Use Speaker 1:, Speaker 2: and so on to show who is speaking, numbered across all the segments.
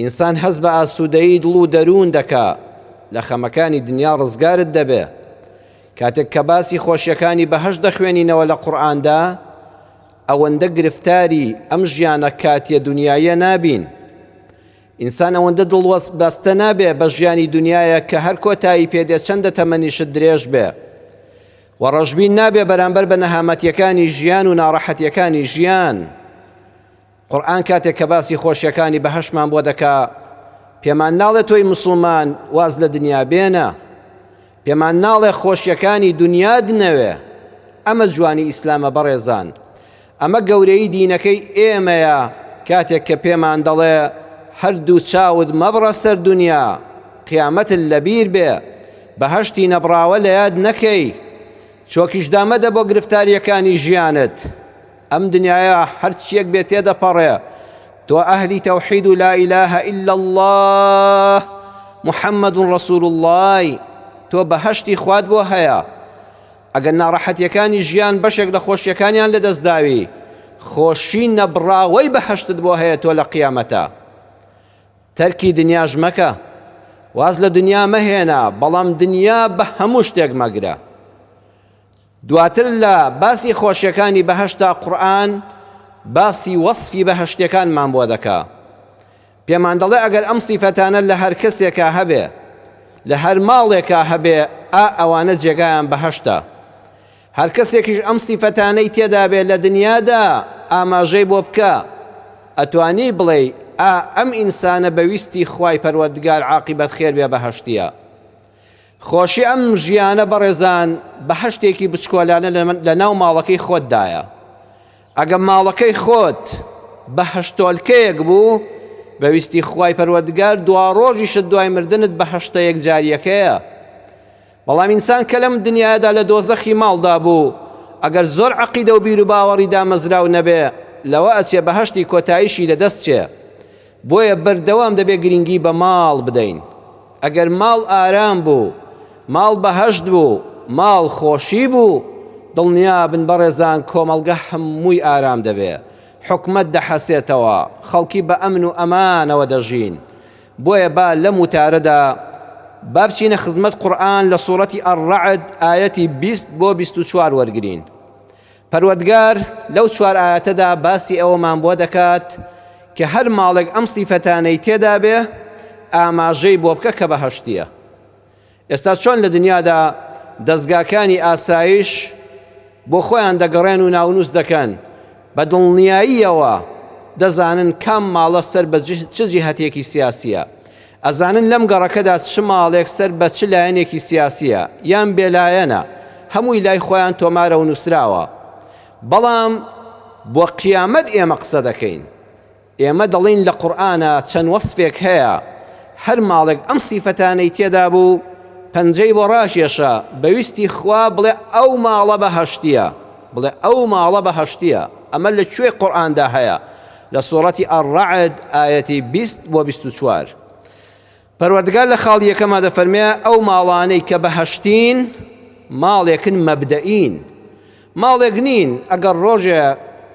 Speaker 1: ئینسان هەست بە ئاسوودەیی دڵ و دەروون دەکا، لە خەمەکانی دنیا ڕزگارت دەبێ. کاتێک کە باسی خۆشیەکانی بەهەشت دەخوێنینەوە لە قورئاندا، ئەوەندە گرفتاری ئەم ژیانە کاتیە دنیاییە نابین. ئینسان ئەوەندە دڵ بەستە نابێ بە ژیانی دنیایە کە هەر کۆتایی پێ دێ چەندە تەمەنیشت درێژ بێ. و ڕەشبین نابێ بەرامبەر بە نەهامەتیەکانی ژیان و ناڕەحەتیەکانی ژیان. قورئان کاتێک کە باسی خۆشیەکانی بەهەشتمان بۆ دەکا پێمان ناڵێ تۆی مسوڵمان واز لە دنیا بێنە پێمان ناڵێ خۆشیەکانی دنیاد نەوێ ئەمە جوانی ئیسلامە بەڕێزان ئەمە گەورەی دینەکەی ئێمەیە کاتێک کە پێمان دەڵێ هەردوو چاود مەبڕە سەر دنیا قیامەت لەبیر بێ بەهەشتی نەبڕاوە لە یاد نەکەی چۆکیش دامەدە بۆ گرفتاریەکانی ژیانت ئەم دنیایە هەرچییەک بێت تێدەپەڕێ، تۆ ئەهلی تەوحید و لا ئیلە ئیلا اللە محمد رسول اللەی، تۆ بەهەشتی خوات بۆ هەیە، ئەگەر ناڕەحەتییەکانی ژیان بەشێک لە خۆشییەکانیان لەدەستداوی، خۆشی نەبڕاوەی بەهەشتت بۆ هەیە تۆ لە قیامەتا. تەرکی دنیاش مەکە، واز لە دنیا مەهێنە، بەڵام دنیا بە هەموو شتێک مەگرە. دواتر لە باسی خۆشیەکانی بەهەشتدا قورئان باسی وەسفی بەهەشتیەکانمان بۆ دەکا پێمان دەڵێ ئەگەر ئەم سیفەتانە لە هەر کەسێکا هەبێ لە هەر ماڵێکا هەبێ ئا ئەوانە جێگایان بەهەشتە هەر کەسێکیش ئەم سیفەتانەی تێدا بێ لە دنیادا ئاماژەی بۆ بکە ئەتوانی بڵێی ئا ئەم ئینسانە بە ویستی خوای پەروەردگار عاقیبەت خێر بێ بەهەشتیە خۆشی ئەم ژیانە بەڕێزان بەهەشتێکی بچکۆلانە لە ناو ماڵەکەی خۆت دایە. ئەگە ماڵەکەی خۆت بەهەشتۆلکەیەک بوو، بە ویستی خوای پەروەردگار دواڕۆژیشت دوای مردنت بەهەشتە یەکجارییەکەیە. بەڵام ئینسان کە لەم دنیادا لە دۆزەخی ماڵدا بوو، ئەگەر زۆر عەقیدە و بیروباوەڕی دامەزراو نەبێ، لەوە ئەچێ بەهەشتی کۆتاییشی لەدەست چێ. بۆیە بەردەوام دەبێت گرنگی بە ماڵ بدەین، ئەگەر ماڵ ئارام بوو، ماڵ بەهەشت بوو، ماڵ خۆشی بوو، دڵنیابن بەڕێزان کۆمەڵگە هەمووی ئارام دەبێت، حکومەت دەحەسێتەوە، خەڵکی بە ئەمن و ئەمانەوە دەژین، بۆیە با لەم وتارەدا با بچینە خزمەت قورئان لە سورەتی الرعد ئایەتی بیست بۆ بیست و چوار وەرگرین پەروەردگار لەو چوار ئایەتەدا باسی ئەوەمان بۆ دەکات کە هەر ماڵێک ئەم سیفەتانەی تێدا بێ ئاماژەی بۆ بکە کە بەهەشتیە ئێستا چۆن لە دنیادا دەستگاکانی ئاسایش بۆ خۆیان دەگەڕێن و ناونووس دەکەن بە دڵنیاییەوە دەزانن کام ماڵە سەر بە چ جیهەتێکی سیاسیە ئەزانن لەم گەڕەکەدا چ ماڵێک سەر بە چ لایەنێکی سیاسییە یان بێلایەنە، هەمووی لای خۆیان تۆمارە و نووسراوە. بەڵام بۆ قیامەت ئێمە قسە دەکەین؟ ئێمە دەڵێین لە قورئانا چەند وەسفێک هەیە، هەر ماڵێک ئەم سیفەتانەی تێدا بوو، پەنجەی بۆ ڕاکێشە، بە ویستی خوا بڵێ ئەو ماڵە بەهەشتییە، بڵێ ئەو ماڵە بەهەشتییە. ئەمە لە کوێی قورئاندا هەیە؟ لە سورەتی الرعد ئایەتی بیست بۆ بیست و چوار پەروەردگار لە خاڵی یەکەما دەفەرمێ ئەو ماڵانەی کە بەهەشتین ماڵێکن مەبدەئین ماڵێک نین ئەگەر ڕۆژێ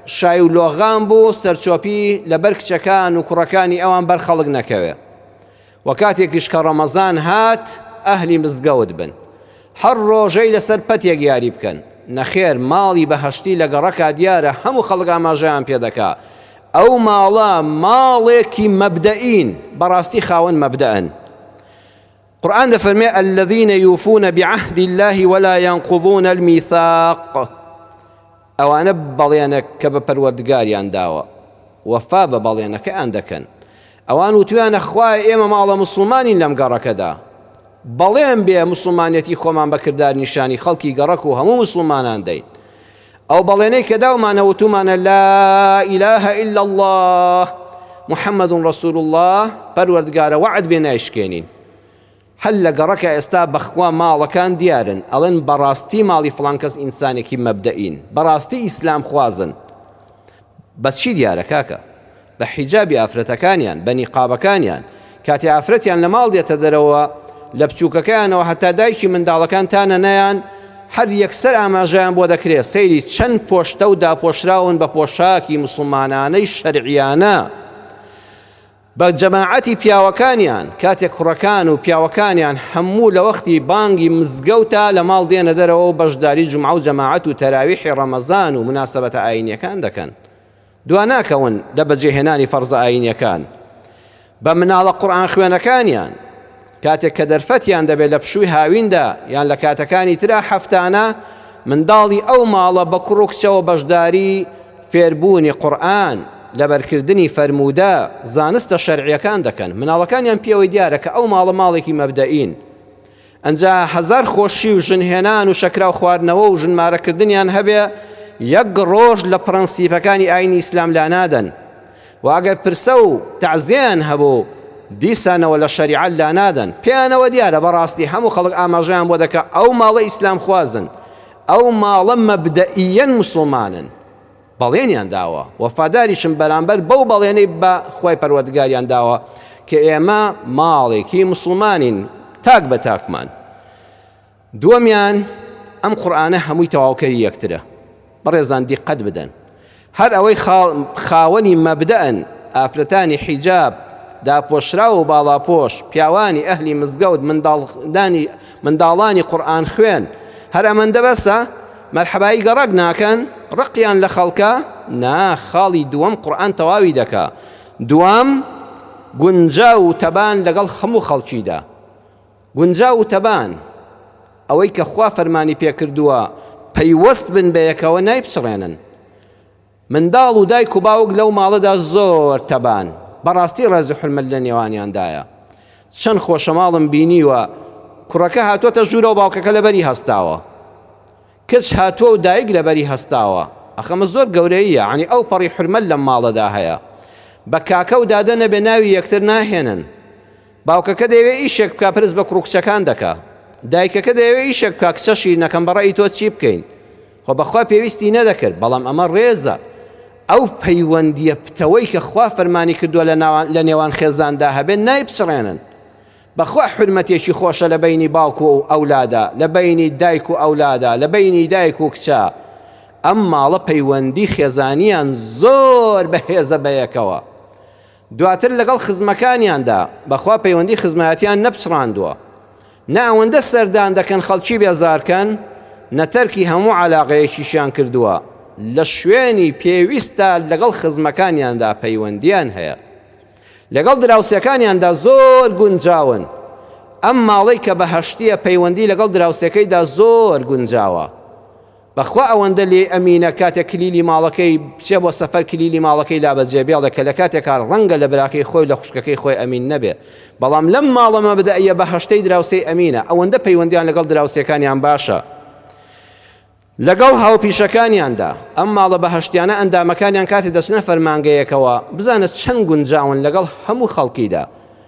Speaker 1: شای و لۆغان بوو سەرچۆپی لەبەر کچەکان و کوڕەکانی ئەوان بەر خەڵک نەکەوێ وە کاتێکیش کە ڕەمەزان هات ئەهلی مزگەوت بن هەر ڕۆژەی لەسەر پەتێک یاری بکەن نەخێر ماڵی بەهەشتی لە گەڕەکا دیارە هەموو خەڵک ئاماژەیان پێ دەکا ئەو ماڵە ماڵێکی مەبدەئین بەڕاستی خاوەن مەبدەئن قرآن دەفەرمێ الذين يوفون بعهد الله ولا ينقضون الميثاق ئەوانە بەڵێنەک کە بە پەروەردگاریان داوە وەفا بە بەڵێنەکەیان دەکەن، ئەوان وتویانە خوایە ئێمە ماڵە موسڵمانین لەم گەڕەکەدا، بەڵێن بێ موسڵمانیەتی خۆمان بە کردار نیشانی خەڵکی گەڕەک و هەموو موسڵمانان دەین، ئەو بەڵێنەی کە داومانە وتومانە لا الە الا اللە محمد رسول اللە پەروەردگارە وەعد بێ نایشکێنین. حەل لە گەڕەکە ئێستا بەخوا ماڵەکان دیارن ئەڵێن بەڕاستی ماڵی فڵان کەس ئینسانێکی مەبدەئین بەڕاستی ئیسلام خوازن بە چی دیارە کاکە بە حیجابی ئافرەتەکانیان بە نیقابەکانیان کاتێ ئافرەتیان لە ماڵ دێتە دەرەوە لە بچووکەکەیانەوە هەتا دایکی منداڵەکان تا نەنەیان هەر یەکسەر ئاماژەیان بۆ دەکرێت سەیری چەند پۆشتە و داپۆشراون بە پۆشاکی مسوڵمانانەی شەرعیانە بە جەماعەتی پیاوەکانیان، کاتێک کوڕەکان و پیاوەکانیان هەموو لە وەختی بانگی مزگەوتا لە ماڵ دێنە دەرەوە و بەشداری جومعە و جەماعەت و تەراویحی ڕەمەزان و موناسەبەتە ئایینیەکان دەکەن دوا ناکەون لە بەجێهێنانی فەرزە ئایینیەکان بە مناڵە قورئان خوێنەکانیان کاتێک کە دەرفەتیان دەبێت لە پشووی هاویندا یان لە کاتەکانی ترا هەفتانە منداڵی ئەو ماڵە بە کوڕ و کچەوە بەشداری فێربوونی قورئان، لەبەرکردنی فەرموودە، زانستە شەرعییەکان دەکەن. مناڵەکانیان پێوەی دیارە کە ئەو ماڵە ماڵێکی مەبدەئین. ئەنجا هەزار خۆشی و ژن هێنان و شەکراو خواردنەوە و ژن مارە کردنیان هەبێ یەک ڕۆژ لە پڕەنسیپەکانی ئاینی ئیسلام لانادەن. وە ئەگەر پرسە و تەعزیەیان هەبوو دیسانەوە لە شەریعەت لانادەن پێیانەوە دیارە بەڕاستی هەموو خەڵک ئاماژەیان بۆ دەکا ئەو ماڵە ئیسلامخوازن ئەو ماڵە مەبدەئیەن موسڵمانن بەڵێنیان داوە وەفاداریشم بەرامبەر بەو بەڵێنەی بە خوای پەروەردگاریان داوە کە ئێمە ماڵێکی موسڵمانین تاک بە تاکمان دووەمیان، ئەم قورئانە هەمووی تەواوکەری یەکترە، بەڕێزان دیقەت بدەن، هەر ئەوەی خاوەنی مەبدەئن، ئافرەتانی حیجاب، داپۆشراو و باڵاپۆش، پیاوانی ئەهلی مزگەوت، منداڵانی قورئانخوێن، هەر ئەمەندە بەسە؟ مەرحەبایی گەڕەک ناکەن؟ ڕقیان لە خەڵکە؟ نا، خاڵی دووەم قورئان تەواوی دەکا، دووەم، گونجاو و تەبان لەگەڵ هەموو خەڵکیدا. گونجاو و تەبان، ئەوەی کە خوا فەرمانی پێکردووە پەیوەست بن بەیەکەوە نایپچڕێنن. منداڵ و دایک و باوک لەو ماڵەدا زۆر تەبان، بەڕاستی ڕێز و حورمەت لە نێوانیاندایە. چەند خۆشە ماڵم بینیوە کوڕەکە هاتووەتە ژوورە و باوکەکە لەبەری هەستاوە. کچ هاتووە و دایک لەبەری هەستاوە. ئەخ ئەمە زۆر گەورەییە، یانی ئەوپەڕی حورمەت لەم ماڵەدا هەیە. بە کاکە و دادە نەبێ ناوی یەکتر ناهێنن. باوکەکە دەیەوێ ئیشێک بکا پرس بە کوڕ و کچەکان دەکا دایکەکە دەیەوێ ئیشێک بکا کچەشی نەکەم بە ڕەئی تۆ چی بکەین خۆ بەخوا پێویستی نەدەکرد بەڵام ئەمە ڕێزە ئەو پەیوەندیە پتەوەی کە خوا فەرمانی کردووە لە ناوان لە نێوان خێزاندا هەبێت نایبچڕێنن بەخوا حرمەتێکی خۆشە لە بینی باوک و ئەولادا لە بینی دایک و ئەولادا لە بینی دایک و کچە ئەم ماڵە پەیوەندی خێزانیان زۆر بەهێزە بەیەکەوە دواتر لەگەڵ خزمەکانیاندا بەخوا پەیوەندی خزمایەتیان نەپچڕاندووە نە ئەوەندە سەردان دەکەن خەڵکی بێزارکەن نە تەرکی هەموو عەلاقەیەکیشیان کردووە لە شوێنی پێویستدا لەگەڵ خزمەکانیاندا پەیوەندیان هەیە لەگەڵ دراوسێکانیاندا زۆر گونجاون ئەم ماڵەی کە بەهەشتیە پەیوەندی لەگەڵ دراوسێکەیدا زۆر گونجاوە بەخوا ئەوەندە لێی ئەمینە کاتێک کلیلی ماڵەکەی بچێ بۆ سەفەر کلیلی ماڵەکەی لا بە جێبێڵێ کە لەکاتێکا ڕەنگە لە براکەی خۆی لە خوشکەکەی خۆی ئەمین نەبێ بەڵام لەم ماڵە مەبدەئیە بەهەشتەی دراوسێی ئەمینە ئەوەندە پەیوەندیان لەگەڵ دراوسێکانیان باشە لەگەڵ هاوپیشەکانیاندا ئەم ماڵە بەهەشتیانە ئەندامەکانیان کاتێ دەچنە فەرمانگەیەکەوە بزانە چەند گونجاون لەگەڵ هەموو خەڵکیدا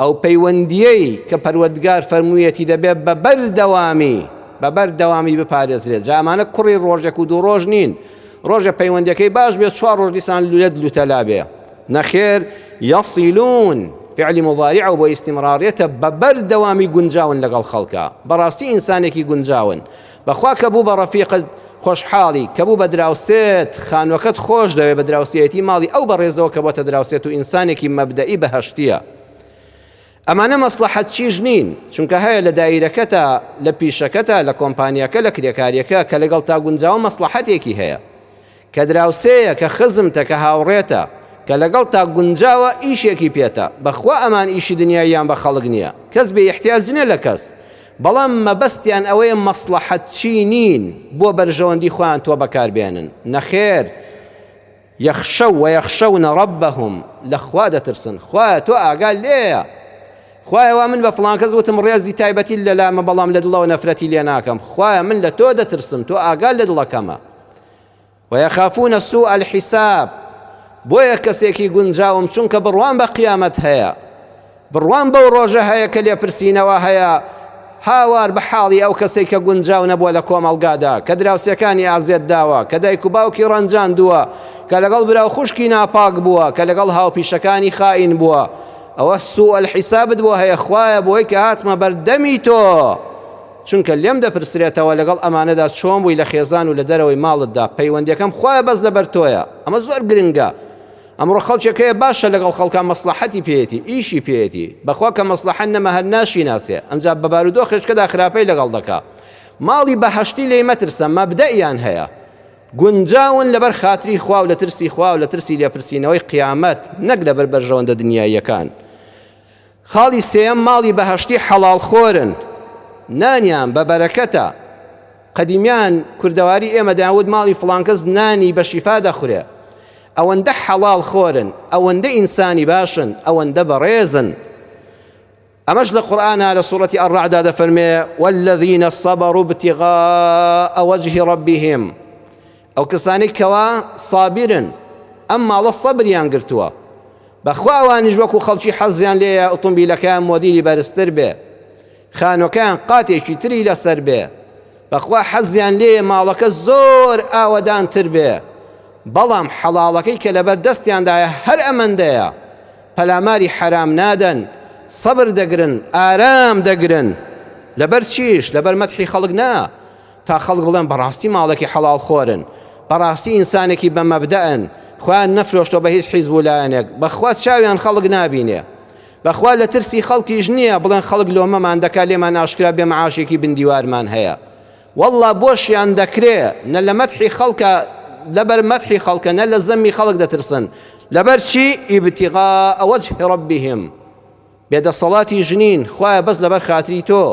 Speaker 1: ئەو پەیوەندییەی کە پەروەردگار فەرموویەتی دەبێت بە بەردەوامی بە بەردەوامی بپارێزرێت، جا ئەمانە کوڕی ڕۆژێک و دوو ڕۆژ نین، ڕۆژێ پەیوەندیەکەی باش بێت چوار ڕۆژ دیسان لولەت لوتەلا بێ، نەخێر، یەصیلون، فعلی مضارعە و بۆ ئیستمڕاڕیەتە، بە بەردەوامی گونجاون لەگەڵ خەڵکا، بەڕاستی ئینسانێکی گونجاون. بەخوا کە بوو بە ڕەفیقت خۆشحاڵی، کە بوو بە دراوسێت خانووەکەت خۆش دەوێ، بە دراوسێیەتی ماڵی ئەو بەڕێزەوە کە بۆتە دراوسێت و ئینسانێکی مەبدەئی بەهەشتییە. ئەمانە مەسڵەحەتچیش نین، چونکە هەیە لە دایرەکەتا، لە پیشەکەتا، لە کۆمپانیاکە، لە کرێکارییەکە کە لەگەڵتا گونجاوە مەسڵەحەتێکی هەیە کە دراوسێیە کە خزمتە کە هاوڕێتە کە لەگەڵتا گونجاوە ئیشێکی پێتە بەخوا ئەمان ئیشی دنیاییان بە خەڵک نیە کەس بێ ئیحتیاج نیە لە کەس بەڵام مەبەستیان ئەوەیە مەسڵەحەت چینین بۆ بەرژەوەندی خۆیان تۆ بەکار بێنن نەخێر یەخشەو و یەخشەونە ڕەبەهم لە خوا دەترسن خوایە تۆ ئاگا لێیە خوایە وا من بە فڵان کەس وتم ڕێزی تایبەتی لەلامە بەڵام لە دڵەوە نەفرەتی لێ ناکەم خوایە من لە تۆ دەترسم تۆ ئاگا لە دڵەکەمە ویخافون سوء الحساب بۆیە کەسێکی گونجاوم چونکە بڕوام بە قیامەت هەیە بڕوام بەو ڕۆژە هەیە کە لێپرسینەوە هەیە هاوار بە حاڵی ئەو کەسێک کە گونجاو نەبووە لە کۆمەڵگادا کە دراوسێکانی ئازێت داوە کە دایک و باوکی ڕەنجاندووە کە لەگەڵ برا و خوشکی ناپاک بووە کە لەگەڵ هاوپیشەکانی خائین بووە ئەوە سوء الحسابت بۆ هەیە خوایە بۆی کە هاتمە بەردەمی تۆ چونکە لێم دەپرسرێتەوە لەگەڵ ئەمانەدا چۆن بووی لە خێزان و لە دەرەوەی ماڵتدا، پەیوەندیەکەم خوایە بەس لەبەر تۆیە، ئەمە زۆر گرنگە، ئەمڕۆ خەڵکێک هەیە باشە لەگەڵ خەڵکا مەسڵەحەتی پێیەتی، ئیشی پێیەتی، بەخوا کە مەسڵەحەت نەما هەر ناشیناسێ، ئەنجا بە بارودۆخێشکەدا خراپەی لەگەڵ دەکا، ماڵی بەهەشتی لێی مەترسە، مەبدەئیان هەیە، گونجاون لەبەر خاتری خوا و لە ترسی خوا و لە ترسی لێپرسینەوەی قیامەت، نەک لەبەر بەرژەوەندە دنیاییەکان. خاڵی سێیەم، ماڵی بەهەشتی حەڵاڵ خۆرن، نانیان بە بەرەکەتە، قەدیمیان کوردەواری ئێمە دەیانوت ماڵی فڵانکەس نانی بە شیفا دەخورێ، ئەوەندە حەڵاڵ خۆرن، ئەوەندە ئینسانی باشن، ئەوەندە بەڕێزن. ئەمەش لە قورئانا لە سوڕەتی ئەڕەعدا دەفەرمێ والذین صبروا ابتغاء وجه ربهم ئەو کەسانەی کەوا سابیرن ئەم ماڵە سەبریان گرتووە بەخوا ئەوانیش وەکو خەڵکی حەزیان لێیە ئۆتۆمبیلەکەیان مۆدیلی بەرزتر بێ خانۆکەیان قاتێکی تری لەسەر بێ بەخوا حەزیان لێیە ماڵەکە زۆر ئاوەدانتر بێ بەڵام حەڵاڵەکەی کە لەبەر دەستیاندایە هەر ئەمەندەیە پەلاماری حەرام نادەن سەبر دەگرن ئارام دەگرن لەبەر چیش لەبەر مەتحی خەڵک نا تا خەڵک بڵێن بەڕاستی ماڵێکی حەڵاڵ خۆرن، بەڕاستی ئینسانێکی بە مەبدەئن، خۆیان نەفرۆشتوە بە هیچ حیزب و لایەنێک، بەخوا چاویان خەڵک نابینێ، بەخوا لە ترسی خەڵکیش نییە، بڵێن خەڵک لۆمەمان دەکا لێمان ئاشکرا بێ معاشێکی بن دیوارمان هەیە، وەڵڵا بۆشیان دەکرێ، نە لە مەدحی خەڵکە لە بەر مەدحی خەڵکە نە لە زەمی خەڵک دەترسن، لەبەر چی؟ ابتغاء وجه ربهم. بێ دەسەڵاتی ژنین خوایە بەس لەبەر خاتری تۆ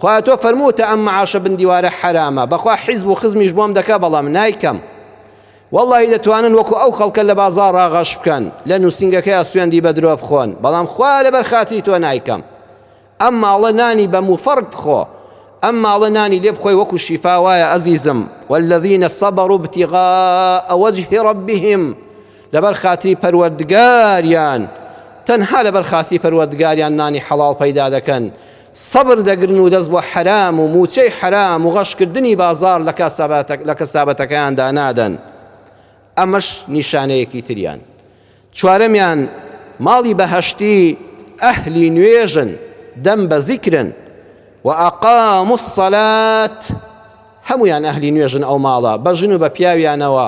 Speaker 1: خوایە تۆ فەرمووتە ئەم معاشە بندیوارە حەرامە بەخوا حیزب و خزمیش بۆم دەکا بەڵام نایکەم واللهی دەتوانن وەکو ئەو خەڵکە لە بازار ڕاغەش بکەن لە نووسنگەکەی سوێندی بە درۆ بخۆن بەڵام خوا لەبەر خاتری تۆ نایکەم ئەم ماڵە نانی بە موفەرق بخۆ ئەم ماڵە نانی لێ بخۆی وەکو شیفا وایە ئەزیزم والذینە سەبەڕ و بتیغا ئەوەجهی ڕبیهم لەبەر خاتری پەروەردگاریان تەنها لەبەر خاتری پەروەردگاریان نانی حەڵاڵ پەیدا دەکەن سەبر دەگرن و دەست بۆ حەرام و موچەی حەرام و غەشکردنی بازار لە کەسابەتەکەیاندا نادەن ئەمەش نیشانەیەکی تریان چوارەمیان ماڵی بەهشتی ئەهلی نوێژن دەم بە زیکرن و ئەقام و سەلات هەموویان ئەهلی نوێژن ئەو ماڵە بە ژن و بە پیاویانەوە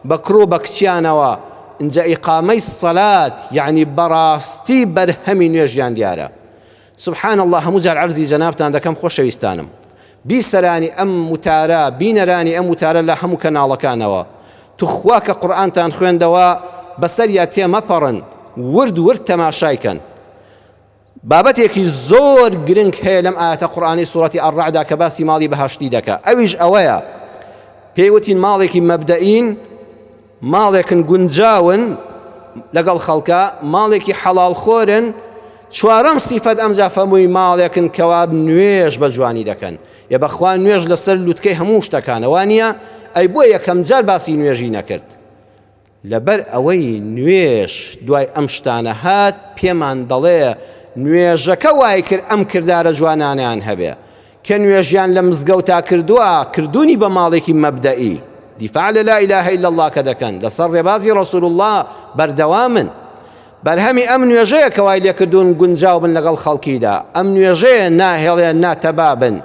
Speaker 1: بە کوڕ و بە کچیانەوە ئینجا ئیقامەی سەلات یعنی بەڕاستی بەرهەمی نوێژیان دیارە سبحان الله هەموو جار عەرزی جەنابتان دەکەم خۆشەویستانم بیسەرانی ئەم وتارە بینەرانی ئەم وتارە لە هەموو کەناڵەکانەوە توخوا کە قورآانتان خوێندەوە بەسەریا تێمەپەڕن ورد ورد تەماشایکەن بابەتێکی زۆر گرنگ هەیە لەم ئاەتە قورآانی سوورەتی ئەڕعدا کە باسی ماڵی بەهشتی دەکە ئەویش ئەوەیە پێیوتین ماڵێکی مەبدەین ماڵێکن گونجاون لەگەڵ خەڵکە ماڵێکی حەڵال خۆرن چوارەم سیفەت ئەمجا فەمووی ماڵێکن کەوا نوێش بە جوانی دەکەن یە بەخوا نوێژ لەسەر لوتکەی هەموو شتەکانەوە نییە ئەی بۆ یەکەم جار باسی نوێژی نەکرد لەبەر ئەوەی نوێژ دوای ئەم شتانە هات، پێمان دەڵێ نوێژەکە وای کرد ئەم کردارە جوانانەیان هەبێ. کێ نوێژیان لە مزگەوتا کردووە، کردوونی بە ماڵێکی مەبدەئی، دیفاع لە لا الە الا اللە کە دەکەن، لەسەر ڕێبازی ڕەسول اللە بەردەوامن. بەرهەمی ئەم نوێژەیە کە وای لێکردوون گونجاو بن لەگەڵ خەڵکیدا. ئەم نوێژەیە ناهێڵێ ناتەبا بن.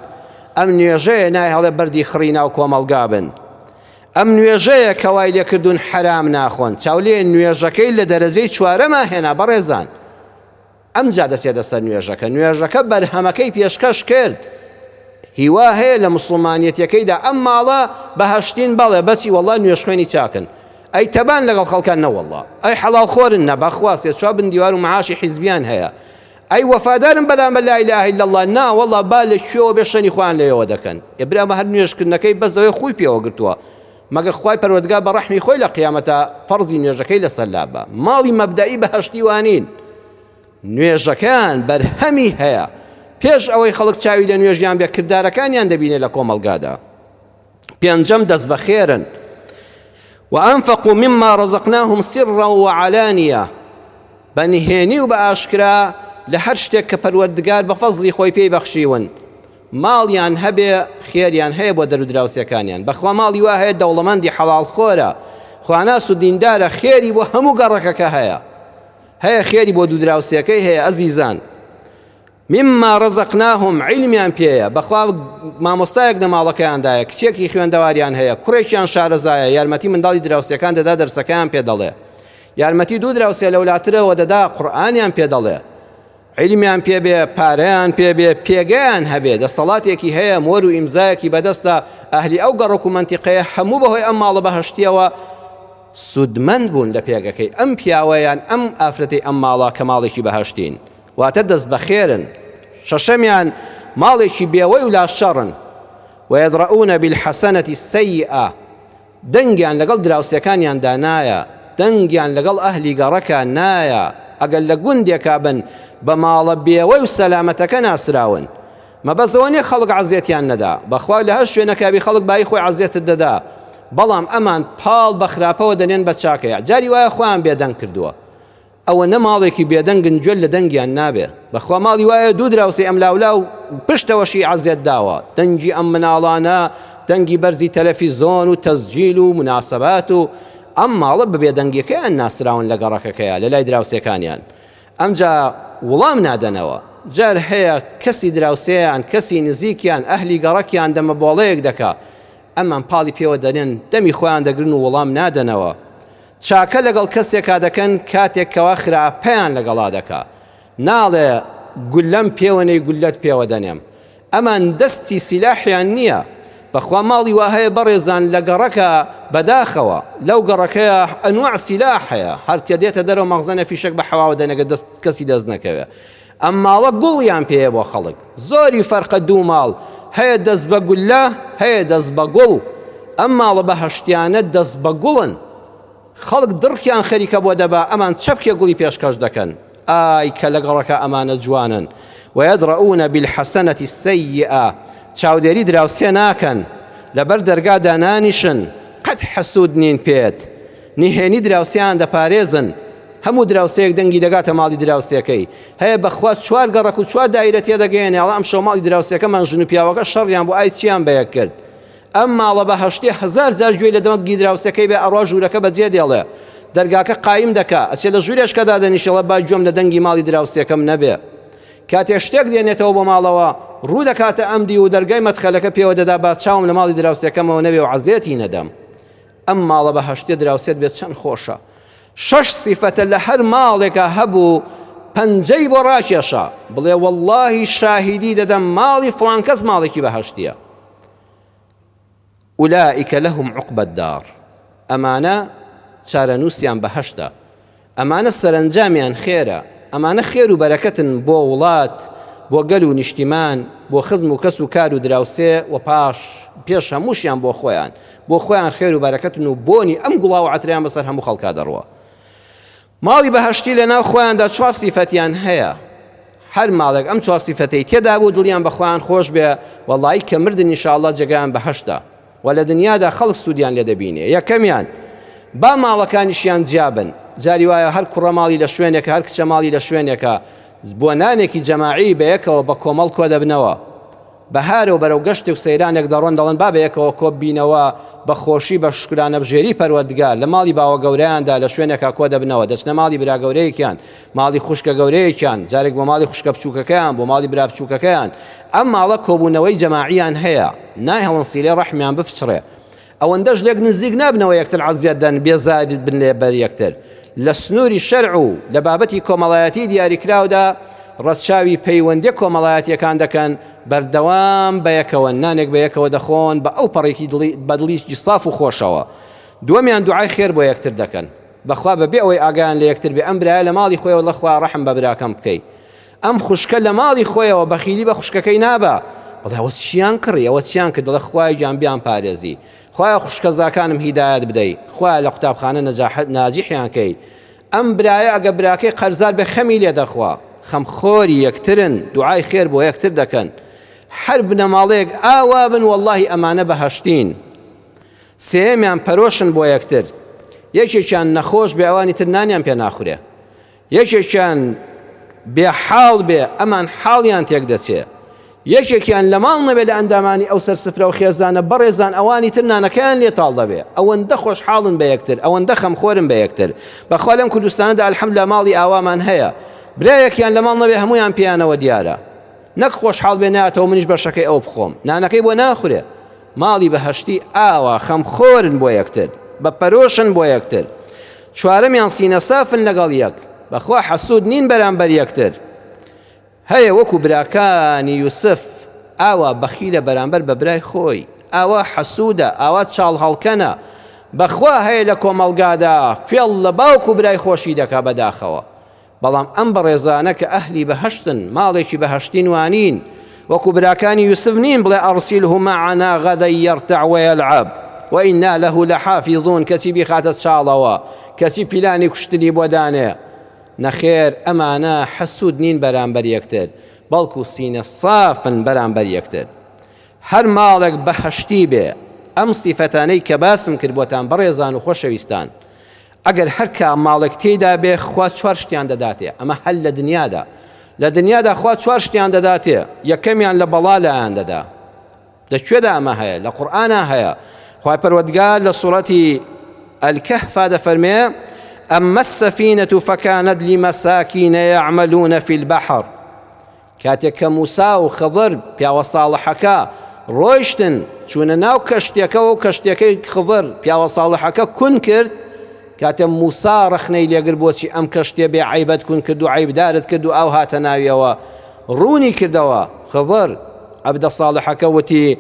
Speaker 1: ئەم نوێژەیە ناهێڵێ بەردی خڕی ناو کۆمەڵگا بن. ئەم نوێژەیە کە وای لێکردون حەرام ناخۆن چاولێ نوێژەکەی لە دەرەجەی چوارەما هێنا بەڕێزان ئەمجا دەچێتە سەر نوێژەکە نوێژەکە بەرهەمەکەی پێشکەش کرد هیوا هەیە لە مسلمانەتەکەیدا ئەم ماڵە بەهشتین بەڵێ بەچی وەڵا نوێش خوێنی چاکن ئەی تەبان لەگەڵ خەڵکان نەوەڵا ئەی حەڵاڵ خۆرن نە بەخواستێ چوا بن دیوار و معاشی حیزبیان هەیە ئەی وەفادارن بەلامە لا اله الا اللە نا وەڵا با لە کوێوە بێ شەنی خۆیان لەوێوە دەکەن ئێ برا ئەمە هەر نوێژکردنەکەی بەس دەوێ خوی پێوە گرتووە مەگە خوای پەروەردگار بە ڕەحمی خۆی لە قیامەتا فەرزی نوێژەکەی لەسەر لابا ماڵی مەبدەئی بەهەشتی وانین نوێژەکەیان بەرهەمی هەیە پێش ئەوەی خەڵک چاوی لە نوێژیان بێ کردارەکانیان دەبینێ لە کۆمەڵگادا. پێنجەم دەست بەخێرن وأنفقوا مما رزقناهم سرا وعلانية بە نهێنی و بە ئاشکرا لە هەر شتێک کە پەروەردگار بە فەزلی خۆی پێی بەخشیون ماڵیان هەبێ خێریان هەیە بۆ دەرودراوسەکانیان بەخوا ماڵی وا هەیە دەوڵەمەندی حەواڵ خۆرە خواناس و دیندارە خێری بۆ هەموو گەڕەکەکە هەیە هەیە خێری بۆ دوودراوسەکەی هەیە ئەزیزان مما رزقناهم عیلمیان پێیە بەخوا مامۆستایەک لە ماڵەکەیاندایە کچێکی خوێندەواریان هەیە کوڕێکیان شارەزایە یارمەتی منداڵی دراوسێکان دەدا دەرسەکەیان پێ دەڵێ یارمەتی دوو دراوسێ لەولاترەوە دەدا قورئانیان پێ دەڵێ عیلمیان پێ بێ پارەیان پێ بێ پێگەیان هەبێ دەسەڵاتێکی هەیە مۆر و ئیمزایەکی بەدەستە ئەهلی ئەو گەڕک و منتیقەیە هەموو بەهۆی ئەم ماڵە بەهشتیەوە سوودمەند بوون لە پێگەکەی ئەم پیاوەیان ئەم ئافرەتی ئەم ماڵە کە ماڵێکی بەهشتین واتە دەست بەخێرن. شەشەمیان، ماڵێکی بێوەی و لاشەڕن. ویدڕوونە بیلحەسەنەتی السەیئە، دەنگیان لەگەڵ دراوسێکانیاندا نایە، دەنگیان لەگەڵ ئەهلی گەڕەکە نایە، ئەگەر لە گوندێکا بن بە ماڵە بێوەی و سەلامەتەکە ناسراون. مەبەست ئەوە نیە خەڵک عەزێتیان نەدا، بەخوا لە هەر شوێنەکا بی خەڵک بایی خۆی عەزێتت دەدا، بەڵام ئەمان پاڵ بە خراپەوە دەنێن بە چاکەیا، جاری وایە خۆیان بێدەنگ کردووە. ئەوەنە ماڵێکی بێدەنگن گوێت لە دەنگیان نابێ بەخوا ماڵی وایە دوو دراوسێ ئەم لاولاو پشتەوە شیعە زێد داوە دەنگی ئەم مناڵانە دەنگی بەرزی تەلەفیزۆن و تەسجیل و مناسەبات و ئەم ماڵە بە بێدەنگیەکەیان ناسراون لە گەڕەکەکەیا لەلای دراوسێکانیان ئەمجا وڵام نادەنەوە جار هەیە کەسی دراوسێیان کەسی نزیکیان ئەهلی گەڕەکیان دەمە بۆڵەیەک دەکا ئەمان پاڵی پێوە دەنێن دەمی خۆیان دەگرن و وڵام نادەنەوە چاکە لەگەڵ کەسێکا دەکەن کاتێک کەوا خراپەیان لەگەڵا دەکا ناڵێ گولەم پێوە نەی گولەت پێوە دەنێم ئەمان دەستی سیلاحیان نییە بەخوا ماڵی وا هەیە بەڕێزان لە گەڕەکە بەداخەوە لەو گەڕەکەیە ئەنواع سیلاح هەیە هەر کە دێتە دەرەوە مەغزەنە فیشەک بە حەواوە دەنەگە دەست کەسی دەست نەکەوێ ئەم ماڵە گوڵیان پێیە بۆ خەڵک زۆری فەرقە دوو ماڵ هەیە دەست بە گوللە هەیە دەست بە گوڵ ئەم ماڵە بەهەشتیانە دەست بە گوڵن خەڵک دڕکیان خەریکە بۆ دەبا ئەمان چەپکێ گوڵی پێشکەش دەکەن ئای کە لەگەڵەکە ئەمانە جوانن وەیەدڕەونە بالحەسەنەتی السەیئە چاودێری دراوسێ ناکەن لەبەر دەرگا دانانیشن قەت حەسود نین پێت نهێنی دراوسێیان دەپارێزن، هەموو دراوسێیەک دەنگی دەگاتە ماڵی دراوسێکەی، هەیە بەخوا چوار گەڕەک و چوار دایرە تێدەگەیەنێ، ئەڵێ ئەمشەو ماڵی دراوسێکەمان ژن و پیاوەکە شەڕیان بوو ئای چیان بەیەک کرد، ئەم ماڵە بەهەشتیە هەزار جار گوێی لە دەنگی دراوسێکەی بێ ئەڕوا ژوورەکە بەجێ دێڵێ، دەرگاکە قایم دەکا، ئەچێ لە ژوورێشکا دادەنیشێ ئەڵێ با گوێم لە دەنگی ماڵی دراوسێکەم نەبێ، کاتێ شتێک دێنێتەوە بۆ ماڵەوە ڕوو دەکاتە ئەم دیو و دەرگای مەدخەلەکە پێوە دەدا با چاوم لە ماڵی دراوسێکەمەوە نەبێ و عەزێتی نەدەم، ئەم ماڵە بەهەشتیە دراوسێت بێت چەند خۆشە شەش سیفەتە لە هەر ماڵێکە هەبوو پەنجەی بۆ ڕاکێشە بڵێ واللهی شاهیدی دەدەم ماڵی فڵان کەس ماڵێکی بەهەشتیە ئولائیکە لەهم عقبەت دار ئەمانە چارەنووسیان بەهەشتە ئەمانە سەرەنجامیان خێرە. ئەمانە خێر و بەرەکەتن بۆ وڵات، بۆ گەل و نیشتیمان، بۆ خزم و کەس و کار و دراوسێ و پاش پێش هەمووشیان بۆ خۆیان. بۆ خۆیان خێر و بەرەکەتن و بۆنی ئەم گوڵاو و عەترەیان بەسەر هەموو خەڵکا دەڕوا. ماڵی بەهەشتی لە ناو خۆیاندا چوار سیفەتیان هەیە. هەر ماڵێک ئەم چوار سیفەتەی تێدا بوو دڵیان بە خۆیان خۆش بێ، وەڵایی کە مردن ئینشاڵڵا جێگایان بەهەشتە. وە لە دنیادا خەڵک سودیان لێ دەبینێ یەکەمیان با ماڵەکانیشیان جیابن جاری وایە هەر کوڕە ماڵی لە شوێنێکە هەر کچە ماڵی لە شوێنێکە بۆ نانێکی جەماعی بەیەکەوە بە کۆمەڵ کۆ دەبنەوە بەهارەوە بەرەو گەشتێک سەیرانێک دەڕۆن دەڵن با بەیەکەوە کۆب بینەوە بە خۆشی بە شکرانە بژێری پەروەردگار لە ماڵی باوە گەوریاندا لە شوێنێکا کۆ دەبنەوە دەچنە ماڵی برا گەورەیەکیان ماڵی خوشکە گەورەیەکیان جارێک بۆ ماڵی خوشکە بچووکەکەیان بۆ ماڵی برا بچووکەکەیان ئەم ماڵە کۆبوونەوەی جەماعیان هەیە ناهێڵن سیلەی ڕەحمیان بپچڕێ ئەوەندەش لێک نزیک نابنەوە یەکتر عەزیەت دەن بێزار بن لە بەر یەکتر لە سنووری شەرع و لە بابەتی کۆمەڵایەتی دیاریکراودا ڕەچاوی پەیوەندیە کۆمەڵایەتیەکان دەکەن بەردەوام بەیەکەوە نانێک بەیەکەوە دەخۆن بە ئەو پەڕێکی دڵی بە دڵیکی ساف و خۆشەوە دووەمیان دوعای خێر بۆ یەکتر دەکەن بەخوا بەبێ ئەوەی ئاگایان لە یەکتر بێ ئەم برایە لە ماڵی خۆیەوە لەخوا ڕەحم بە براکەم بکەی ئەم خوشکە لە ماڵی خۆیەوە بەخیلی بە خوشکەکەی نابا بڵێ ئەوە چیان کڕی ئەوە چیان کرد دەڵێ خوای گیان بیان پارێزی خوایە خوشکە زاکانم هیدایەت بدەی خوایە لە قوتابخانە نەجاحەت ناجیحیان کەی ئەم برایە ئەگە براکەی قەرزار بێ خەمی لێ دەخوا خەم خۆری یەکترن دوعای خێر بۆ یەکتر دەکەن هەر بنەماڵەیەک ئاوا بن واللهی ئەمانە بەهەشتین سێمیان پەرۆشن بۆ یەکتر یەکێکیان نەخۆش بێ ئەوانی تر نانیان پێ ناخورێ یەکێکیان بێ حاڵ بێ ئەمان حاڵیان تێک دەچێ، یەکێکیان لە ماڵ نەبێ لە ئەندامانی ئەو سەر سفرە و خێزانە بەڕێزان ئەوانی تر نانەکەیان لێ تاڵ دەبێ، ئەوەندە خۆشحاڵن بە یەکتر، ئەوەندە خەمخۆرن بە یەکتر، بەخوا لەم کوردستانەدا الحمدللە ماڵی ئاوامان هەیە، برایەکیان لە ماڵ نەبێ هەموویان پێیانەوە دیارە، نەک خۆشحاڵ بێ نایەتەوە منیش بەشەکەی ئەو بخۆم، نانەکەی بۆ ناخورێ. ماڵی بەهەشتی ئاوا خەمخۆرن بۆ یەکتر بە پەرۆشن بۆ یەکتر چوارەمیان سینە سافن لەگەڵ یەک بەخوا حەسود نین بەرامبەر یەکتر هەیە وەکو براکانی یوسف ئاوا بەخیلە بەرامبەر بە برای خۆی ئاوا حەسودە ئاوا چاڵ هەڵکەنە بەخوا هەیە لە کۆمەڵگادا فێڵ لە باوکو برای خۆشی دەکا بەداخەوە بەڵام ئەم بەڕێزانە کە ئەهلی بەهەشتن، ماڵێکی بەهەشتین وانین، وەکو براکانی یوسف نین بڵێ ارسله معنا غدا یرتع ویلعب وانا له لحافظون کەچی بیخاتە چاڵەوە، کەچی پیلانی کوشتنی بۆ دانێ. نەخێر ئەمانە حەسود نین بەرامبەر یەکتر، بەڵکو سینە سافن بەرامبەر یەکتر. هەر ماڵێک بەهەشتی بێ ئەم سیفەتانەی کە باسم کرد بۆتان بەڕێزان و خۆشەویستان، ئەگەر هەر کا ماڵێک تێیدا بێ خوا چوار شتیان دەداتێ، ئەمە هەر لە دنیادا، لە دنیادا خوا چوار شتیان دەداتێ، یەکەمیان لە بەڵا لایان دەدا، لە کوێدا ئەمە هەیە؟ لە قورئانا هەیە، خوای پەروەردگار لە سوڕەتی، الکهفا، دەفەرمێ، اما السفینە فکانت لمساکین یعملون فی البحر، کاتێک کە موسا و خضر، پیاوە ساڵحەکە، ڕۆیشتن، چوونە ناو کەشتیەکەوە و کەشتیەکەی خضر، پیاوە ساڵحەکە، کون کرد، کاتێ موسا ڕەخنەی لێگرت بۆچی ئەم کەشتیە بێ عەیبەت کون کرد و عەیبدارت کرد و ئاو هاتە ناویەوە، ڕوونی کردەوە، خضر، عەبدە ساڵحەکە، وتی،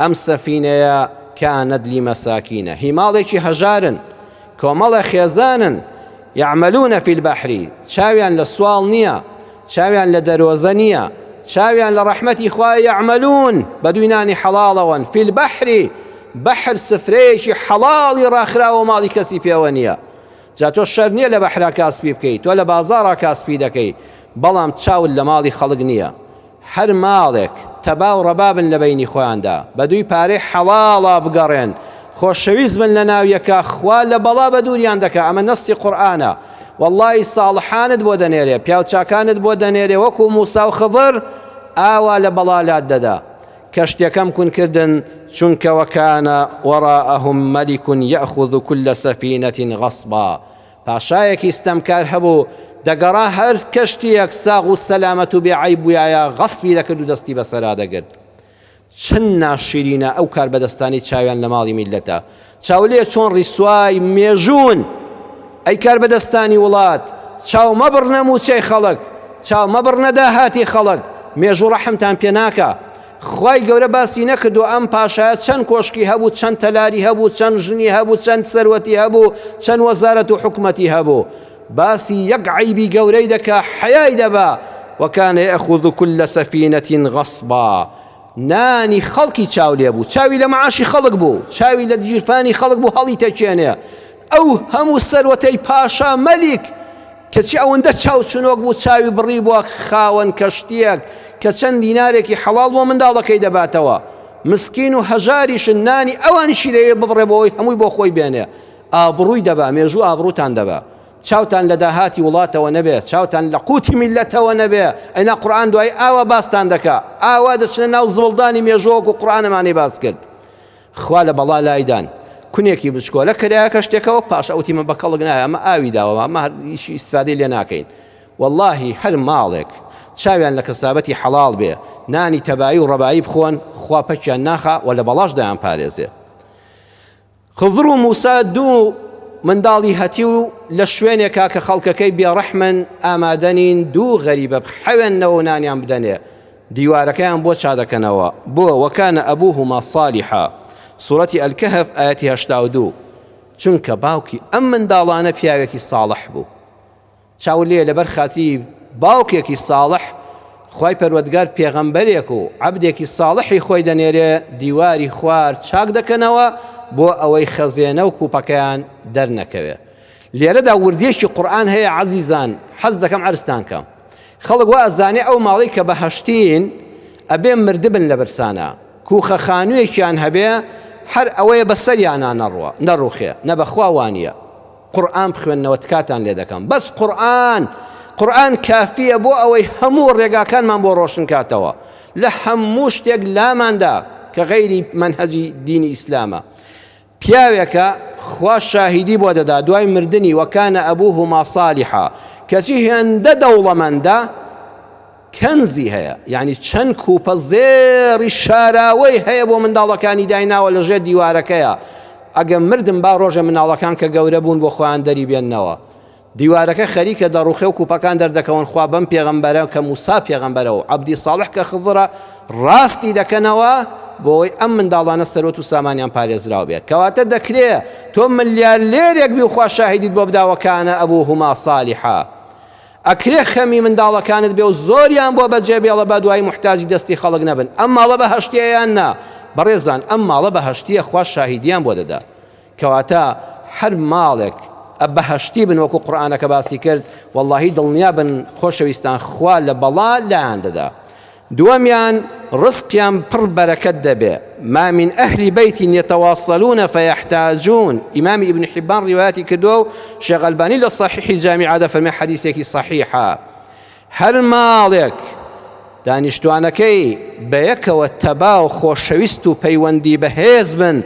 Speaker 1: ئەم سەفینەیە کانت لمساکین، هی ماڵێکی هەژارن، کۆمەڵێ خێزانن، یعملون فی البحر، چاویان لە سواڵ نیە، چاویان لە دەرۆزە نیە چاویان لە ڕەحمەتی خوایە یەعمەلوون بەدووی نانی حەڵاڵەوەن فی البحر بەحر سفرەیەکی حەڵاڵی ڕاخراوە ماڵی کەسی پێوە نیە جا تۆ شەرت نیە لە بەحرا کاسپی بکەی تۆ لە بازاڕا کاسپی دەکەی بەڵام چاوت لە ماڵی خەڵک نیە هەر ماڵێک تەبا و ڕەبابن لە بەینی خۆیاندا بەدووی پارەی حەڵاڵا بگەڕێن خۆشەویست بن لەناو یەکا خوا لە بەڵا بەدووریان دەکا ئەمە نەستی قورئانە وەڵڵا ی ساڵحانت بۆ دەنێرێ پیاو چاکانت بۆ دەنێرێ وەکو موسا و خضر ئاوا لە بەڵا لات دەدا کەشتیەکەم کون کردن چونکە وەکانە وەڕائەهم مەلیک یەخوذ کل سەفینە غەصبا پاشایەکی ستەمکار هەبوو دەگەڕا هەر کەشتیەک ساغ و سەلامەت و بێ عەیب بویایە غەصبی دەکرد و دەستی بەسەرا دەگرت چەند ناشیرینە ئەو کاربەدەستانەی چاویان لە ماڵی میللەتە چاولێ چۆن ڕیسوای مێژوون ئەی کاربەدەستانی وڵات چاو مەبڕنە موچەی خەڵک چاو مەبڕنە داهاتی خەڵک مێژوو ڕەحمتان پێ ناکە خی گەورە باسی نەکردو ئەم پاشایە چەند کۆشکی هەبوو چەند تەلاری هەبوو چەند ژنی هەبوو چەند سەروەتی هەبوو چەند وەزارەت و حکومەتی هەبوو باسی یەک عەیبی گەورەی دەکا حەیای دەبا، وکان یەئخوذ کل سفینە غصبا، نانی خەڵکی چاو لێ بوو، چاوی لە معاشی خەڵک بوو، چاوی لە گیرفانی خەڵک بوو هەڵی تەکێنێ، ئەو هەموو سەروەتەی پاشا مەلیک کە چ ئەوەندە چاو چنۆک بوو چاوی بڕیبوە خاوەن کەشتیەک کە چەند دینارێکی حەڵاڵ بۆ منداڵەکەی دەباتەوە، مسکین و هەژاریشن نانی ئەوانیشی لەوێ ببڕێ بۆ ئەوەی هەمووی بۆ خۆی بێنێ، ئابڕووی دەبا، مێژوو ئابڕووتان دەبا. چاوتان لە داهاتی وڵاتەوە نەبێ، چاوتان لە قووتی میللەتەوە نەبێ، ئەینا قورئان دوایی ئاوا باستان دەکا، ئاوا دەچنە ناو زبڵدانی مێژووە وەکوو قورئان ئەمانەی باس کرد. خوا لە بەڵا لای دان. کونێکی بچکۆلە کرایەکە شتێکەوە، پاش ئەوتی من بە کەڵک نایە، ئەمە ئاوی داوە، ئەمە هەر هیچ ئیستفادەی لێ ناکەین. وەڵاهی هەر ماڵێک چاویان لە کەسابەتی حەڵاڵ بێ، نانی تەبایی و ڕەبایی بخۆن، خوا پەکیان ناخا و لە بەڵاش دایانپارێزێ. خضر و موسا دوو منداڵی هەتیو لە شوێنێکا کە خەڵکەکەی بێڕەحمن ئامادەنین دوو غەریبە بخەوێنەوە و نانیان بدەنێ دیوارەکەیان بۆ چادەکەنەوە بۆ وەکانە ئەبوهما صالیحا سورەتی ئەلکەهف ئاەتی هەشتا و دوو چونکە باوکی ئەم منداڵانە پیاوێکی ساڵح بوو چاو لێ لەبەر خاتری باوکێکی ساڵح خوای پەروەردگار پێغەمبەرێک و عەبدێکی ساڵحی خۆی دەنێرێ دیواری خوار چاک دەکەنەوە بۆ ئەوەی خەزێنە و کوپەکەیان دەرنەکەوێ لێرەدا وردێکی قورآن هەیە عەزیزان حەز دەکەم عرستان کەم خەڵک وا ئەزانێ ئەو ماڵی کە بەهەشتین ئەبێ مردبن لە برسانە کوخە خانوویەکیان هەبێ هەر ئەوەیە بەسەریانە نەڕوە نەڕوخێ نە بەخوا وانە قورئان بخوێننەوە تکاتان لێ دەکەم بەس قورئان قورئان کافیە بۆ ئەوەی هەموو ڕێگاکانمان بۆ ڕۆشن کاتەوە لە هەموو شتێک لاماندا کە غەیری منهەجی دینی ئیسلامە پیاوێکە خوا شاهیدی بۆ دەدا دوای مردنی وەکانە ئەبوو هما صالحا کەچی هێندە دەوڵەمەندە کەنزی هەیە یانی چەند کوپە زێڕی شاراوەی هەیە بۆ منداڵەکانی دایناوە لە ژێر دیوارەکەیە ئەگەم مردم با ڕۆژێ مناڵەکان کە گەورە بوون بۆ خۆیان دەری بێننەوە دیوارەکە خەریکە دەڕوخێ و کوپەکان دەردەکەون خوا بەم پێغەمبەرە کە موسا پێغەمبەرە و عبدی ساڵح کە خضرە ڕاستی دەکەنەوە بۆی ئەم منداڵانە سەرۆت و سامانیان پارێزراو بێت کەواتە دەکرێ تۆ ملیار لێرێک بی و خوا شاهیدیت بۆ بداوەکانە ئەبوو هما سالیحە ئەکرێ خەمی منداڵەکانت بێ و زۆریان بۆ بەجێ بێڵە با دوایی موحتاجی دەستی خەڵک نەبن ئەم ماڵە بەهەشتیە یان نا بەڕێزان ئەم ماڵە بەهەشتیە خوا شاهیدیان بۆ دەدا کەواتە هەر ماڵێک بەهەشتی بن وەکو قورآانەکە باسی کرد واللهی دڵنیا بن خۆشەویستان خوا لە بەڵا لایان دەدا دووەمیان ڕزقیان پڕ بەرەکەت دەبێ، ما من اهل بیت یتواصلون فیحتاجون، ئیمامی ئیبن حیبان ڕیوایەتی کردووە و شێخ ئەلبانی لە صحیحی جامعە دەفەرمێ حەدیسێکی صحیحە، هەر ماڵێک دانیشتوانەکەی بە یەکەوە تەبا و خۆشەویست و پەیوەندی بەهێز بن،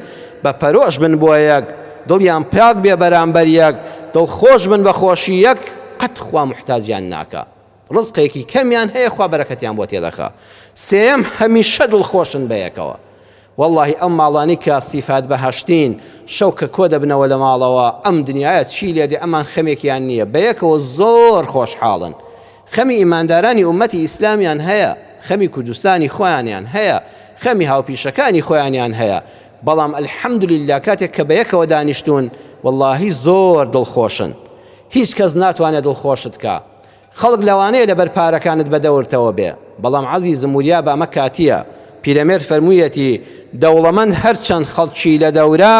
Speaker 1: بە پەرۆش بن بۆ یەک، دڵیان پاک بێ بەرامبەر یەک، دڵخۆش بن بە خۆشی یەک، قەت خوا موحتاجیان ناکا. ڕزقێکی کەمیان هەیە خوا بەرەکەتیان بۆ تێدەخا سێیەم هەمیشە دڵخۆشن بەیەکەوە واللهی ئەم ماڵانی کە سیفات بەهشتین شەو کە کۆ دەبنەوە لە ماڵەوە ئەم دنیاە چی لێدێ ئەمان خەمێکیان نییە بەیەکەوە زۆر خۆشحاڵن خەمی ئیماندارانی ئومەتی ئیسلامیان هەیە خەمی کوردستانی خۆیانیان هەیە خەمی هاوپیشەکانی خۆیانیان هەیە بەڵام الحەمدللا کاتێک کە بەیەکەوە دانیشتون واللهی زۆر دڵخۆشن هیچ کەس ناتوانێت دڵخۆشت کا خەڵک لەوانەیە لەبەر پارەکانت بەدەورتەوە بێ بەڵام عەزیزم وریابە ئەمە کاتییە پیرەمێرد فەرموویەتی دەوڵەمەند هەرچەند خەڵکی لە دەورە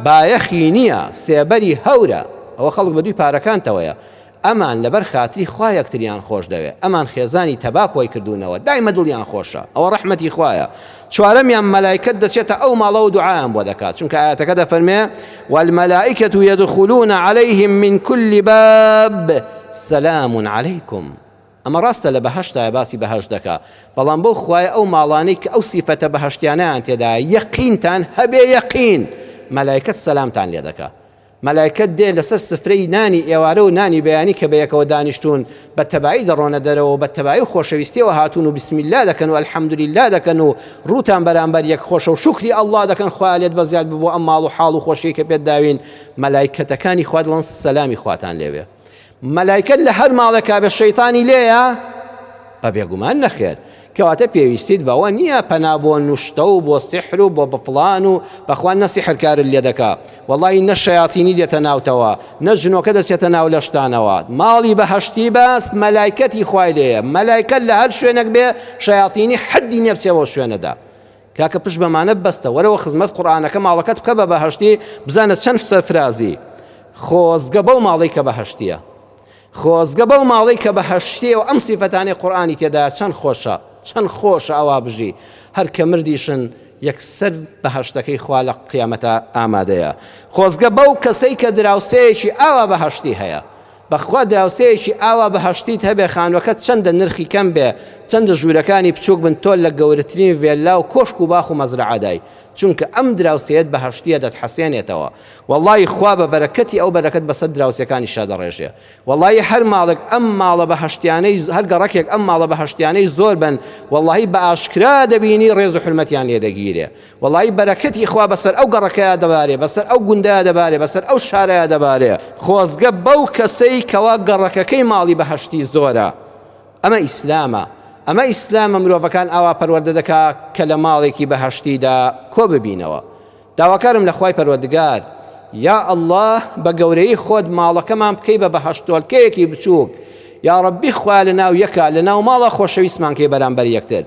Speaker 1: بایەخی نییە سێبەری هەورە ئەوە خەڵک بە دووی پارەکانتەوەیە ئەمان لەبەر خاتری خوا یەکتریان خۆش دەوێ ئەمان خێزانی تەبا کۆی کردوونەوە دایمە دڵیان خۆشە ئەوە ڕەحمەتی خوایە چوارەمیان مەلایکەت دەچێتە ئەو ماڵەوە دوعایان بۆ دەکات چونکە ئایەتەکە دەفەرمێ والملائکة یدخلون علیهم من کل باب سلام علیکم ئەمە ڕاستە لە بەهشتایە باسی بەهشت دەکا بەڵام بۆ خوای ئەو ماڵانەی کە ئەو سیفەتە بەهشتیانیان تێدا یەقینتان هەبێ یەقین مەلایکەت سەلامتان لێ دەکا مەلایکەت دێن لەسەر سفرەی نانی ئێوارە و نانی بەیانی کە بەیەکەوە دانیشتوون بە تەبایی دەڕۆنە دەرەوە و بە تەبایی و خۆشەویستیەوە هاتوون و بسم اللە دەکەن و الحمدللە دەکەن و ڕووتان بەرامبەر یەک خۆشە و شوکری اللە دەکەن خوایە لێت بەزیاد ببوو ئەم ماڵ و حاڵ و خۆشیەی کە پێت داوین مەلایکەتەکانی خوا دڵن سەلامی خواتان لێبێ مەلایکە لە هەر ماڵێکا بە شەیتانی لێیە بە بێگومان نەخێر کەواتە پێویستیت بەوە نییە پەنا بۆ نوشتە و بۆ سحر و بۆ بەفلان و بەخوان نە سحرکار لێ دەکا وەڵی نە شەیاتینی دێتە ناوتەوە نە ژنۆکە دەچێتە ناو لەشتانەوە ماڵی بەهشتی باس مەلایکەتی خوای لێە مەلایکە لە هەر شوێنێک بێ شەیاتینی حەدی نێپسەوە شوێنەدا کاکە پشت بەمانە بەستە وەرەوە خزمەت قورئانەکە ماڵەکەت بکە بە بەهەشتی بزانە چەند سەرفرازی خۆزگە بەو ماڵی کە بەهەشتیە خۆزگە بەو ماڵی کە بەهەشتیە و ئەم سیفەتانی قورآانی تێدا چەند خۆشە چەند خۆشە ئەوا بژی هەر کە مردیشن یەکسەر بەهشتەکەی خوا لە قیامەتە ئامادەیە خۆزگە بەو کەسەی کە دراوسەیەکی ئاوا بەهشتی هەیە بەخوا دراوسێیەکی ئاوا بەهەشتیت هەبێ خانوەکەت چەندە نرخی کەم بێ چەندە ژورەکانی بچوک بن تۆ لە گەورەترین ڤێللا و کۆشک و باخ و مەزرەعەدای چونکە ئەم دراوسێیەت بەهەشتیە دەتحەسێنێتەوە وەڵایی خوا بە بەرەکەتی ئەو بەرەکەت بەسەر دراوسێکانیشا دەڕێژێ وەڵایی هەر ماڵێک ئەم ماڵە بەهەشتیانەی هەر گەڕەکێک ئەم ماڵە بەهەشتیانەی زۆر بن وەڵایی بە ئاشکرا دەبینی ڕێز و حورمەتیان لێ دەگیرێ وەڵایی بەرەکەتی خوا بەسەر ئەو گەڕەکەیا دەبارێ بەسەر ئەو گوندەیا دەبارێ بەسەر ئەو شارەیا دەبارێ خۆزگە بەو کەسەی کەوا گەڕەکەکەی ماڵی بەهەشتی زۆرە ئەمە ئیسلامە ئەمە ئیسلامە مرۆڤەکان ئاوا پەروەردە دەکا کە لە ماڵێکی بەهەشتیدا کۆ ببینەوە داواکارم لە خوای پەروەردگار یا ئەلله بە گەورەی خۆت ماڵەکەمان بکەی بە بەهەشتۆلکەیەکی بچووک یا ڕبی خوای لە ناو یەکە لە ناو ماڵە خۆشەویستمانکەی بەرامبەر یەکتر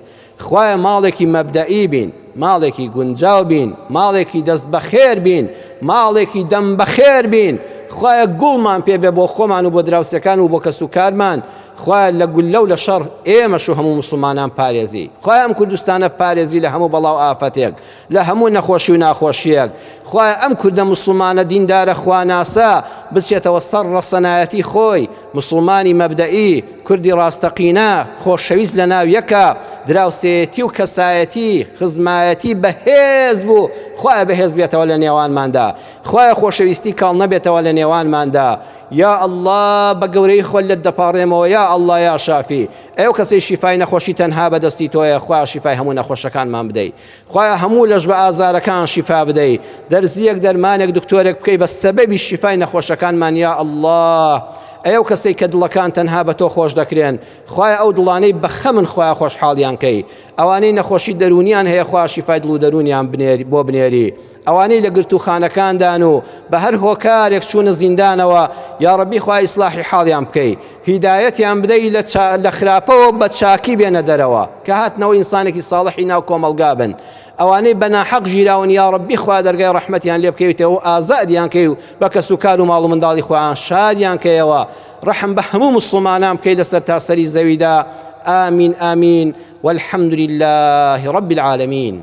Speaker 1: خوایە ماڵێکی مەبدەئی بین، ماڵێکی گونجاو بین، ماڵێکی دەست بەخێر بین، ماڵێکی دەم بەخێر بین، خوایە گوڵمان پێ بێ بۆ خۆمان و بۆ دراوسێکان و بۆ کەس و کارمان، خوایە لە گوللە و لە شەڕ ئێمەش و هەموو موسڵمانان پارێزی، خوایە ئەم کوردستانە پارێزی لە هەموو بەڵا و ئافەتێک، لە هەموو نەخۆشی و ناخۆشیەک خوایە ئەم کوردە موسڵمانە دیندارە خواناسە بچێتەوە سەر ڕەسەنایەتی خۆی موسڵمانی مەبدەئی کوردی ڕاستەقینە خۆشەویست لە ناو یەکە دراوسێتی و کەسایەتی خزمایەتی بەهێز بوو خوایە بەهێز بێتەوە لە نێوانماندا خوایە خۆشەویستی کاڵ نەبێتەوە لە نێوانماندا یا ئەلله بە گەورەی خۆل لە دەپاڕێمەوە یا ئەلله یا شافی ئەو کەسەی شیفای نەخۆشی تەنها بەدەستی تۆیە خوا شیفای هەموو نەخۆشەکانمان بدەیت خوایە هەموو لەش بە ئازارەکان شیفا بدەی دەرزیەک دەرمانێک دکتۆرێک بکەی بە سەبەبی شیفای نەخۆشەکانمان یا الله ئەو کەسەی کە دڵەکان تەنها بە تۆ خۆش دەکرێن خوای ئەو دڵانەی بەخە من خۆیان خۆشحاڵیان کەی ئەوانەی نەخۆشی دەرونیان هەیە خوا شیفای دڵ و دەرونیان بنێری بۆ بنێری ئەوانەی لە گرتووخانەکاندان و بە هەر هۆکارێک چوونە زیندانەوە یاڕەبی خوا ئیسلاحی حاڵیان بکەی هیدایەتیان بدەی لە چا... لە خراپەوە بە چاکی بێنە دەرەوە کە هاتنەوە ئینسانێکی ساڵحی ناو کۆمەڵگا بن ئەوانەی بە ناحەق ژیراون یاڕەبی خوا دەرگای ڕەحمەتیان لێ بکەویتەوە و ئازادیان کەی و بە کەس و کار و ماڵ و منداڵی خۆیان شادیان کەیەوە ڕەحم بە هەموو مسلمانان بکەی لەسەر تاسەری زەویدا آمین آمین والحمد لله رب العالمين